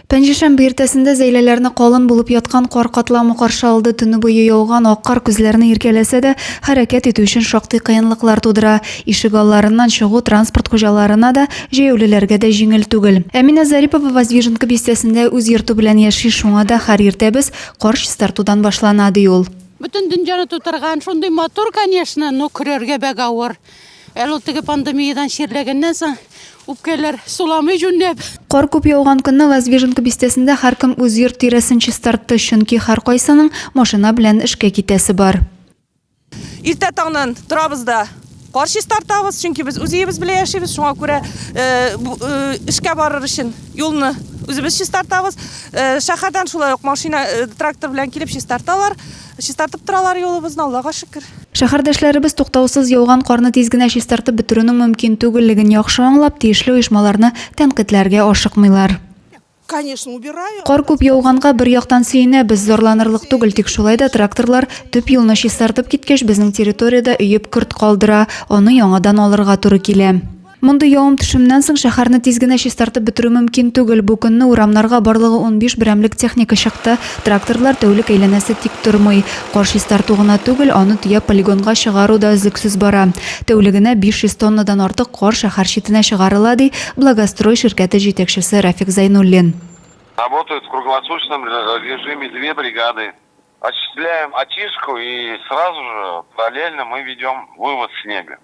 Пәнҗешәмбе иртәсендә Зәйләләрне калын булып яткан кар катламы каршы алды. Төне буе яуган ак кар күзләрне иркәләсә дә, хәрәкәт итү өчен шактый кыенлыклар тудыра. Ишек алларыннан чыгу транспорт хуҗаларына да, җәяүлеләргә дә җиңел түгел. Әминә Зарипова Воздвиженка бистәсендә үз йорты белән яши, шуңа да һәр иртәбез кар чистартудан башлана, ди ул. Бөтен дөньяны тутырган, шундый матур, конечно, но көрәргә бәк авыр. Әле ул теге пандемиядән чирләгәннән соң үпкәләр суламый җүнләп. Кар күп яуган көнне Воздвиженка бистәсендә һәркем үз йорт тирәсен чистартты, чөнки һәркайсының машина белән эшкә китәсе бар. Иртә таңнан торабыз да кар чистартабыз, чөнки без үз өебез белән яшибез, шуңа күрә эшкә барыр өчен юлны үзебез чистартабыз. Шәһәрдән шулай ук машина, трактор белән килеп чистарталар. Чистартып торалар юлыбызны, Аллага шөкер. Шәһәрдәшләребез туктаусыз яуган карны тиз генә чистартып бетерүнең мөмкин түгеллеген яхшы аңлап, тиешле оешмаларны тәнкыйтьләргә ашыкмыйлар. Кар күп яуганга, бер яктан сөенәбез, зарланырлык түгел, тик шулай да тракторлар төп юлны чистартып киткәч, безнең территориядә өеп көрт калдыра, аны яңадан алырга туры килә. Мондый явым-төшемнән соң шәһәрне тиз генә чистартып бетерү мөмкин түгел. Бу көнне урамнарга барлыгы унбиш берәмлек техника чыкты. Тракторлар тәүлек әйләнәсе тик тормый. Кар чистарту гына түгел, аны төяп полигонга чыгару да өзлексез бара. Тәүлегенә 500 тоннадан артык кар шәһәр читенә чыгарыла, ди Благострой ширкәте җитәкчесе Рафик Зәйнуллин. Работают в круглосуточном режиме две бригады. Осуществляем очистку и сразу же параллельно мы ведем вывоз снега.